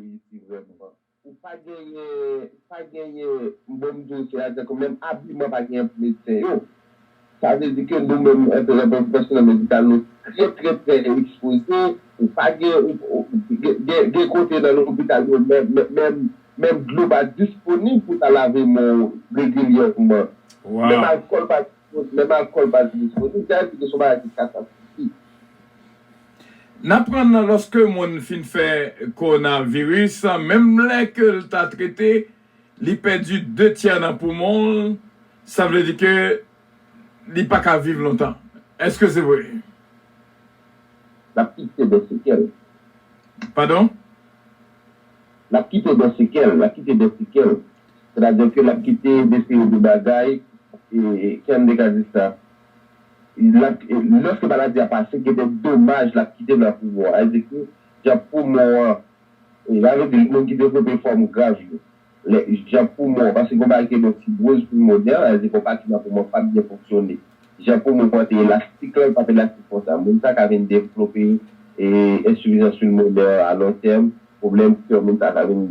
reyisi vrèman. Ou pa genyen, pa genyen, bon m di w se atè ke menm abiman pa genyen pou medsen yo. Sa vle di ke nou menm an tan ke pwofesyonèl medikal nou trè trè trè ekspoze, ou pa gen, gen, gen kote nan lopital yo menm, menm, menm dlo pa disponib pou w ta lave men w regilyèman. Menm alkòl pa. Bon, menm alkòl pa di mezi mezi. Sa vle di ke se yon bagay ki katastwofik. N aprann nan lòske moun fin fè kowonaviris, menm lè ke l ta trete, li pèdi de tyè nan poumon l, sa vle di ke li pa ka viv lontan. Èske se vre? L ap kite de sekèl. Padon? L ap kite de sekèl. L ap kite de sekèl. Sètadi ke lap kite de seri de bagay knbe ka di sa lap lòske maladi a pase gen de domaj lap kite nan poumon an sètadi ki jan poumon an sa vle di moun ki devlope fòm grav yo lè jan poumon paske gon bagay ki rele fibwoz pulmonè sa vle di gon pati nan poumon an pap byen fonksyone jan poumon an te elastik lan li pap elastik konsa moun sa ka vin devlope ensifizans pulmonè a lon tèm pwoblèm kè moun sa ka vin.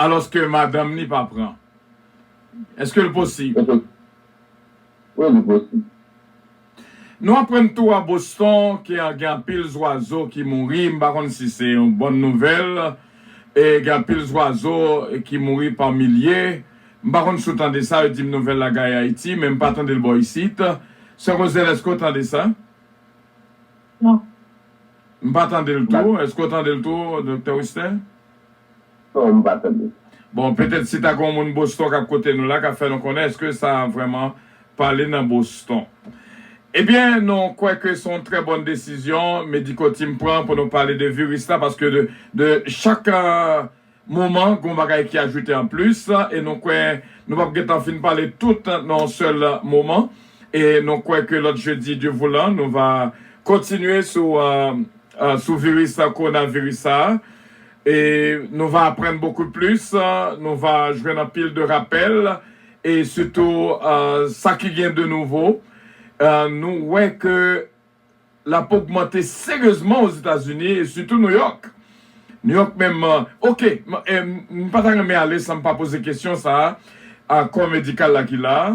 Alòske madanm li pa pran. Èske l posib? Wi, li posib. Nou aprann tou a Boston ke gen anpil zwazo ki mouri, m pa konn si se yon bòn nouvèl, e gen anpil zwazo ki mouri pa milye. M pa konn si w tande sa, yo di m nouvèl la gaye Ayiti, men m pa tande l bò isit. Sè Roselle, èske w tande sa? Non. M pa tande l tou. Èske w tande l tou, Doktè Wisner? son m pa tande. Bon, petèt si ta gen yon moun Boston kap koute nou la ka fè nou konnen eske sa vrèman pale nan Boston. Ebyen nou kwè ke se yon trè bòn desizyon Medico Team pran pou nou pale de viris la paske de chak moman gen yon bagay ki ajoute an plis e nou kwè nou pap gentan fin pale tout nan yon sèl moman e nou kwè ke lòt jedi Dieu voulant nou va kontinye sou Sou viris kowonaviris sa a e nou va aprann bokou plis, nou va jwenn anpil de rapèl e sitou sa ki gen de nouvo nou wè ke l ap ogmante seryezman Ozetazini e sitou Nouyòk. Nouyòk menm ok m pa ta renmen ale san m pa poze kesyon sa a kò medikal la ki la a.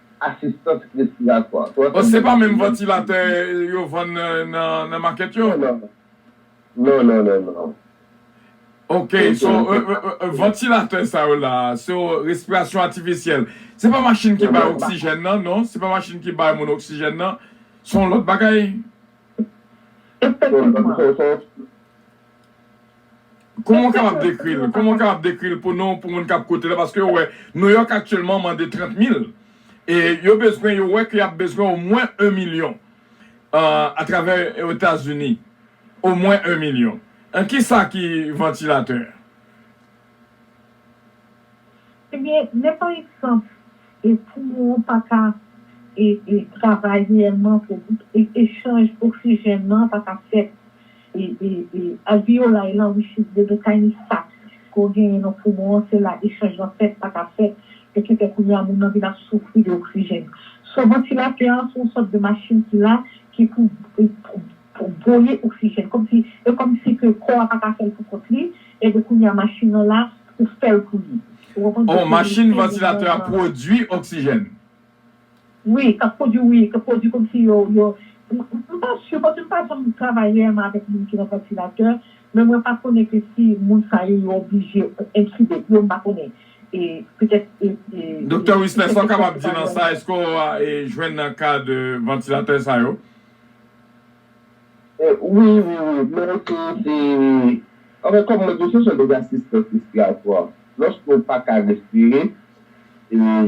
asistans respiratwa. Bon se pa menm vantilatè yo vann nan makèt yo? Non non non non. Ok so vantilatè sa yo la se yo respirasyon atifisyèl se pa machin ki bay oksijèn nan non se pa machin ki bay moun oksijèn nan son lòt bagay? Efektivman. Kouman w kapab dekri l? Kouman w kapab dekri l pou nou, pou moun k ap koute la? Paske yo wè Nouyòk aktyèlman mande 30 mil. E yo bezwen, yo wè ke y ap bezwen omwen 1 milyon atravè Etazini. Omwen 1 milyon. An kisa ki vantilatè? Ebyen men pa egzanp poumon w an pa ka travay reyèlman, echanj oksijèn nan pa ka fèt, alveyolay lan which is de the tiny sac ke w genyen nan poumon an se la echanj lan fèt pa ka fèt e ki fè kounye a moun nan vin ap soufri de oksijèn. So vantilatè an se yon sòt de machin ki la ki pou pou voye oksijèn kòmsi e kòmsi ke kò a pa ka fèl pou kont li ebyen kounye a machin nan la pou fèl pou li ou konprann oh machin vantilatè a pwodwi oksijèn. Wi kap pwodwi wi kap pwodwi kòmsi yo yo m pa su paske m pa janm travay reyèlman avèk moun ki nan vantilatè men mwen pa konnen ke si moun sa yo yo oblije entube yo m pa konnen e petèt e e Doktè Wisner sa w kapab di nan sa èske w jwenn nan ka de vantilatè sa yo Wi wi wi mwen rete se anfen kòm mwen di w se son dèz asistans respiratwa lòske w pa ka respire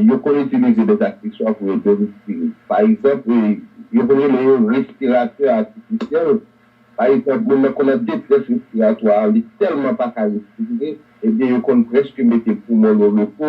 yo konn itilize dèz akseswa pou ede w respire pa egzanp yo konn rele yo respiratè atifisyèl pa egzanp moun nan konn nan detrès respiratwa li tèlman pa ka respire ebyen yo konn prèske mete poumon l o repo.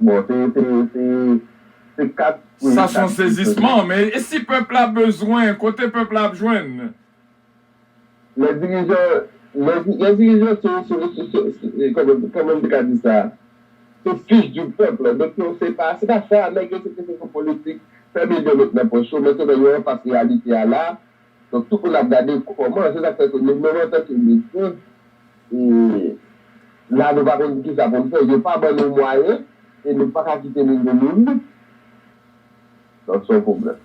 Bon se se se se 4 wi Sa son sezisman men e si pèp la bezwen kote pèp la ap jwenn? Lè dirijan lè lè dirijan se se se kòman kòman m te ka di sa se fils du peuple donk yo se pa se pa sa nèg yo se te se sou politik fè milyon met nan pòch yo mètnan yo anfas reyalite a la Donk tout moun ap gade kòman, se sa k fè ke nou menm antanke medsin, la nou pa konn ki sa pou n fè, yo pa ban nou mwayen e nou pa ka kite moun vin nou lik, donk se yon pwoblèm.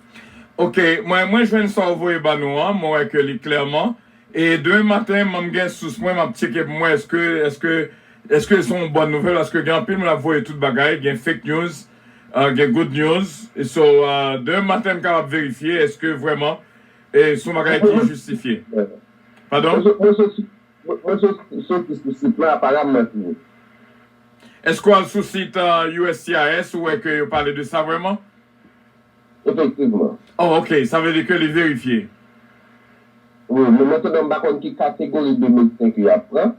Ok, mwen mwen jwenn sa w voye ban nou an, mwen wè ke li klèman, e demen maten mwen gen sous mwen m ap tyeke pou m wè eske eske eske se yon bòn nouvèl paske gen anpil moun ap voye tout bagay, gen fake news. Ah gen good news so demen maten m kapab verifye eske vrèman e son bagay ki jistifye padon? Mwen soti sou sit la aparam mwen fini. Eske w al sou sit uscis ou wè ke yo pale de sa vrèman? Efektivman. Oh ok sa vle di ke li verifye. Wi men mwen te menm pa konn ki kategori de medsen ke yap pran.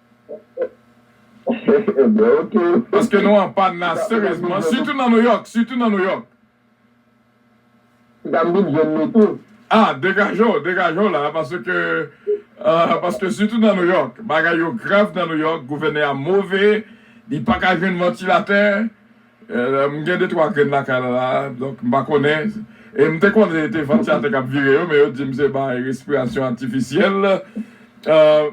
Ebyen ok. Paske nou an pàn la serezman sitou nan nouyòk sitou nan nouyòk. Ti dam vin jwenn nou tou. Ah degaje w degaje w la paske paske sitou nan nouyòk bagay yo grav nan nouyòk gouvènè a move li paka jwenn vantilatè M gen de twa grenn lakay la la donk m pa konnen e m te konnen e te vantilatè k ap vire yo men yo di m se bay respirasyon atifisyèl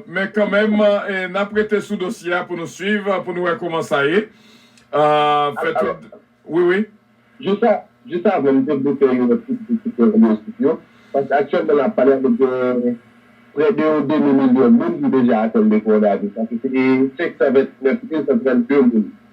men kanmenm n ap rete sou dosye a pou nou swiv pou nou wè kouman sa ye fè tout wi wi. Jis avan m te vle fè yon ti kritik sou anbyotik yo paske aktyèlman la pale a gen prè de yon demi milyon moun ki deja atenn de kowonaviris sa ki se 529132 moun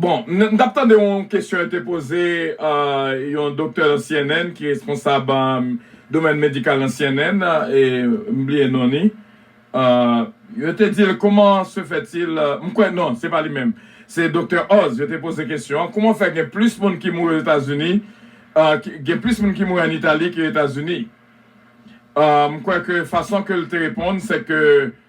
Bon, m t ap tande yon kesyon yo te poze yon doktè nan cnn ki responsab domèn medikal nan cnn, m bliye non li. Yo te di l kouman se fètil, m kwè non, se pa li menm, se doktè Oz yo te poze kesyon an, kouman fè gen plis moun ki mouri Ozetazini, gen plis moun ki mouri an Itali ke Etazini. M kwè ke fason ke l te reponn se ke.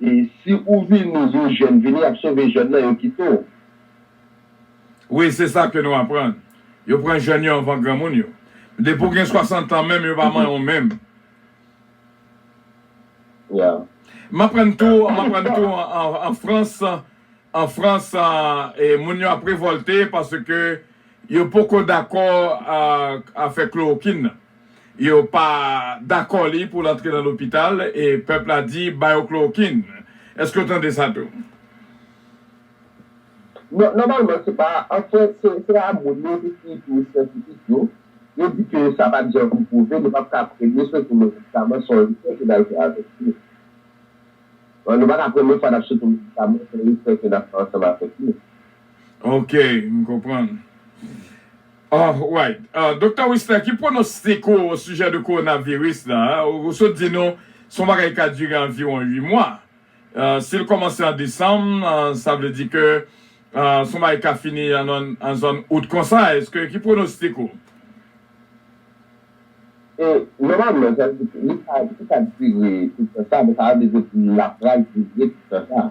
E si ou vini yon jèn vini yap sove jèn nan yo kite w. Wi se sa ke nou aprann. Yo pran jèn yo anvan granmoun yo. Depi w gen 60 ans menm yo pa manyen w menm. Yeah. M aprann tou m aprann tou an frans an frans moun yo ap revolte paske yo poko dakò afè klorokin nan. Yo pa dakò li pou l antre nan lopital e pèp la di ba yo klorokin. Èske w tande sa tou? Non, nòmalman se pa, anfen se pa moun yo ki ekri syantifik yo, yo di ke sa pat janm pwouve, nou pap ka pre, mesye sou medikaman se yon esè ke n al fè avèk li. Nou pa ka premye fwa n ap soti medikaman se yon esè ke n ap fè ansanm avèk li. Ok, m konprann. Alright. Doktè Wisner, ki pwonostik ou osijè de kowonaviris la? Ou sot di nou se yon bagay ki ka dire anviwon 8 mwa. Si l kòmanse an desanm, sa vle di ke se yon bagay ki ka fini nan zòn out konsa. Eske, ki pwonostik ou? Nòmalman, sa vle di, li pa dire tout tan sa. Men sa pa vle di l ap pral dire tout tan sa.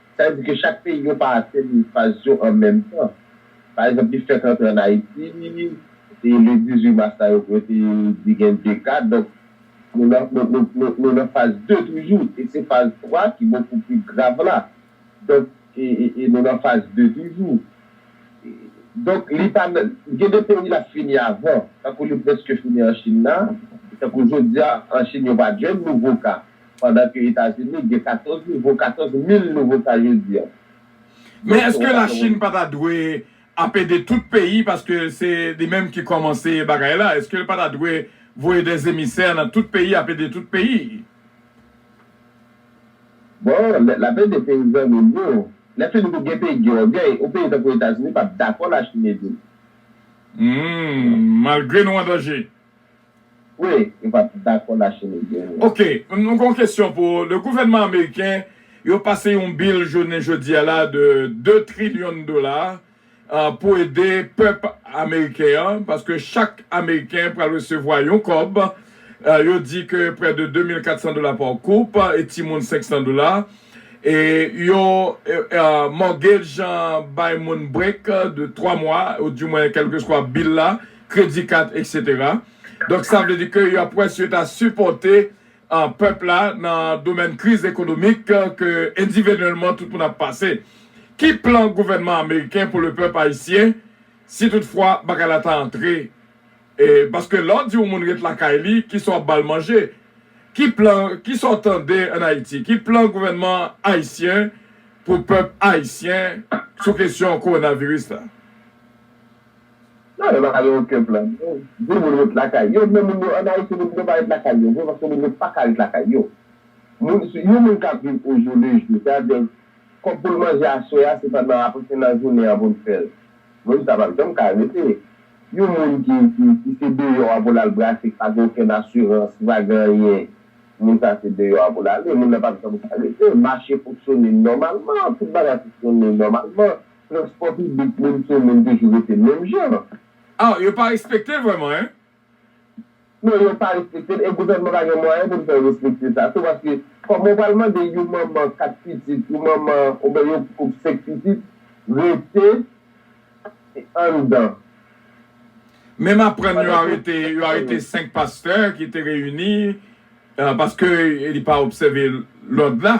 Sa vle di ke chak peyi yo pa atenn faz yo an menm tan. Pa egzanp, li fèk antre an Ayiti, se le 18 mas la yo yo te di gen 2 ka, donk nou nan nou nou nou nou nan faz 2 toujou e se faz 3 ki bokou pi grav la. Donk e e e nou nan faz 2 toujou. E donk li pa nan gen de peyi l ap fini avan, tankou li prèske fini an Chin la, tankou jodi a an Chin yo pa jwenn nouvo ka. pandan ke Etazini gen 14 nouvo 14 mil nouvo ka jodi an. Men eske la Chine pa ta dwe ap ede tout peyi paske se li menm ki kòmanse bagay la eske li pa ta dwe voye dè zemisè nan tout peyi ap ede tout peyi? Bon lè lap ede peyi zanmil yo lè fini tou gen peyi ki gen ògèy yon peyi tankou Etazini pap dakò la Chine edel. Humm malgre nou an danje. Vre, yo pa t dakò lache migren yo. Ok, mwen gen yon kesyon pou ou. Le gouvènman ameriken yo pase yon bill jounen jodi a la de 2 trillion dola pou ede pèp ameriken an paske chak ameriken pral resevwa yon kòb yo di ke prè de 2400 dola par koup e timoun 500 dola e yo mortgage bay moun break de 3 mwa ou di mwen kelkeswa bill la kredi kat etc. Donk sa vle di ke yo ap wè si yo ta sipòte pèp la nan domèn kriz ekonomik ke endivenyèlman tout moun ap pase. Ki plan gouvènman ameriken pou le pèp ayisyen si tout fwa bagay la ta antre e paske lè w di yon moun ret lakay li ki sa w ap ba l manje? Ki plan ki sa w tande an Ayiti? Ki plan gouvènman ayisyen pou pèp ayisyen sou kesyon kowonaviris la? Non yo pa gen oken plan non. Pou moun ret lakay yo men moun yo an Ayiti moun yo pa ret lakay yo vre paske moun yo pa ka ret lakay yo. Moun yon moun kap viv o jou le jou se a di kòb poul manje aswè a se pandan apre se nan jounen an poul fèl. Moun sa pap janm ka rete. Yon moun ki ki se deyò a poul al brase ki pa gen okenn asirans ki pa gen anyen moun sa se deyò a poul ale moun nan pap janm ka rete. Mache fonksyone nòmalman tout bagay fonksyone nòmalman. Transpò piblik moun sou moun toujou rete menm jan. Ah yo pa respekte l vrèman hein? Non yo pa respekte l e gouvènman pa gen mwayen pou l fè yo respekte sa tou paske kòman w pral mande yon manman 4 pitit yon manman oubyen yon koup 5 pitit rete anndan. Men m aprann yo arete yo arete 5 pastè ki te reyini paske li pa obsève lòd la.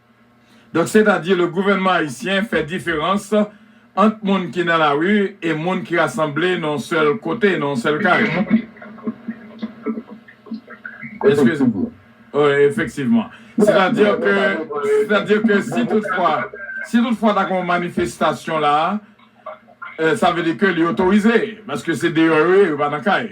Donk setadi le gouvènman ayisyen fè diferans ant moun ki nan lari e moun ki rasanble nan yon sèl kote, nan yon sèl kay. Efektivman. Efektivman. Setadi ke, setadi ke si tout fwa, si tout fwa ta gen yon manifestasyon la, sa vle di ke li otorize, paske se deyò yo ye, yo pa nan kay.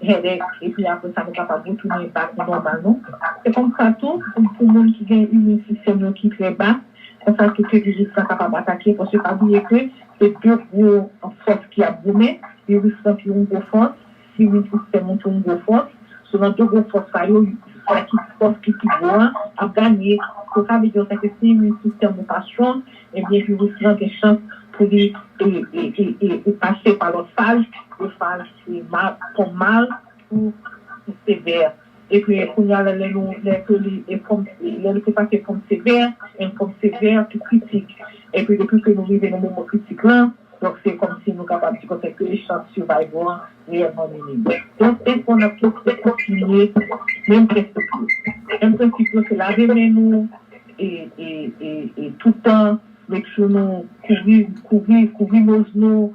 headache epi apre sa nou kapab retounen batri nòmal nou. Se konsa tou pou moun ki gen immune system yo ki trè ba, konsa tou ke viris la kapab atake paske pa bliye ke se 2 gwo fòs ki ap goumen, viris lan tou yon gwo fòs, immune system ou tou yon gwo fòs, so nan 2 gwo fòs sa yo sa ki fòs ki pi gwo an ap ganye, so sa vle di konsa ke si immune system ou pa strong ebyen viris lan gen chans pou li pase pa lòt faz, 2 faz. Se mal fòm mal pou pou sevè e ke kounye a lè nou lè ke li e fòm lè li te pase fòm sevè en fòm sevè pou kritik e ke depi ke nou rive nan moman kritik lan donk se kòm si nou kapab di konsa ke chans survival an reyèlman minim donk enfo n ap toujou kontinye menm prensip yo menm prensip yo se lave men nou e e e e toutan make sure nou kouvri kouvri kouvri noz nou.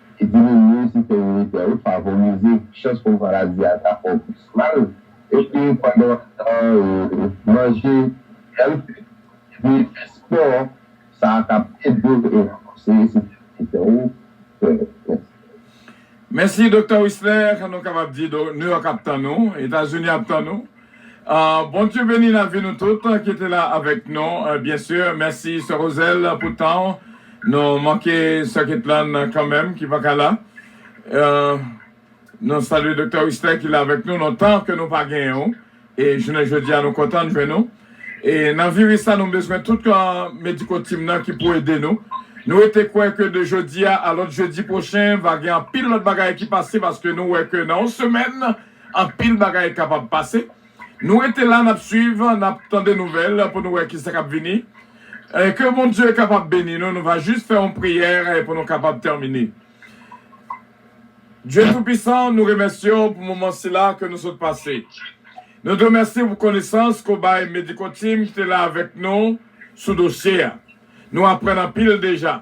Ki te vin menm si fè militè yo favorize chans pou maladi a ta fè w plis mal, epi pandan w ap tan manje healthy epi fè spò, sa a kab ede w e ranfòse sistèm militè ou fè. Mèsi. Mèsi Doktè Wisler, nou kapab di New York ap tann ou, Etazini ap tann ou. Bondye beni lavi nou tout ki te la avèk nou byen si mèsi sè Roselle pou tan w nou manke sè Ketlann kanmèm ki paka la nou salye doktè Wisner ki la avèk nou lontan ke nou pa genyen w e jounen jodi a nou kontan jwenn ou e nan viris sa nou bezwen tout mediko team nan ki pou ede nou nou rete kwè ke de jodi a a lòt jedi pwochen va gen anpil lòt bagay ki pase paske nou wè ke nan yon semèn. Anpil bagay kapab pase. Nou rete la nap swiv, nap tande nouvèl pou nou wè kisa kap vini. Ke Bondye kapab beni nou, nou va jis fè yon priyè pou nou kapab tèmine. Dye tou pisan, nou remèsye w pou moman sila ke nou sot pase. Nou di w mèsi pou konesans ke w bay Medico Team ki te la avèk nou sou dosye a. Nou aprann anpil deja.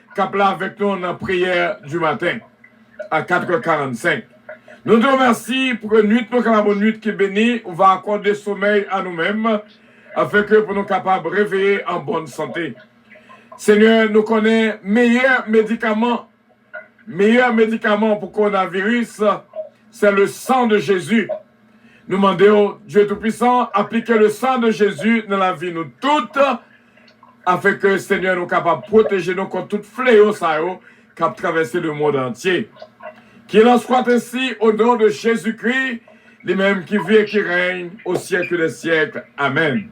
Kap la avèk nou nan priyè di maten a 4 è 45. Nou di w mèsi pou ke nwit nou kapab yon nwit ki beni, ou va akòde somèy a nou menm, afin ke pou nou kapab reveye an bòn sante. Senyè, nou konnen meyè medikaman, meyè medikaman pou kowonaviris, sè le san de Jezi. Nou mande w, Dye Toupisan, aplike le san de Jezi nan lavi nou tout, Afin ke Senyè nou kapab pwoteje nou kont tout fleyo sa yo kap travèse le mond antye. Kilanswatensi, o non de Jezikri, li menm ki vi e ki règne o syèk dè syèk, amèn.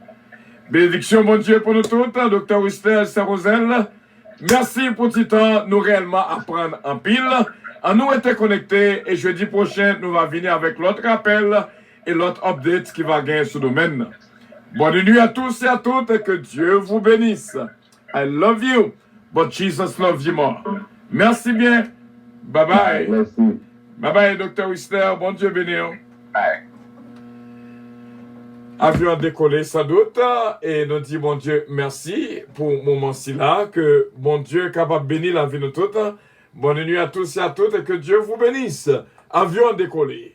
Benediksyon Bondye pou nou tout, Doktè Wisner Sè Rozel, mèsi pou ti tan nou reyèlman aprann anpil, an nou rete konekte e jedi pwochen nou va vini avèk lòt rapèl, e lòt updates ki va gen sou domèn nan. Bonne nuit à tous et à toutes et que Dieu vous benisse I love you but Jesus love you more merci bien bye bye bye bye Doktè Wisner bon Dieu beniw bye. Avyon an dekole san dout e nou di Bon Dieu merci pou moman sila ke Bon Dieu kapab beni lavi nou tout Bonne nuit à tous et à toutes et que Dieu vous benisse Avyon an dekole.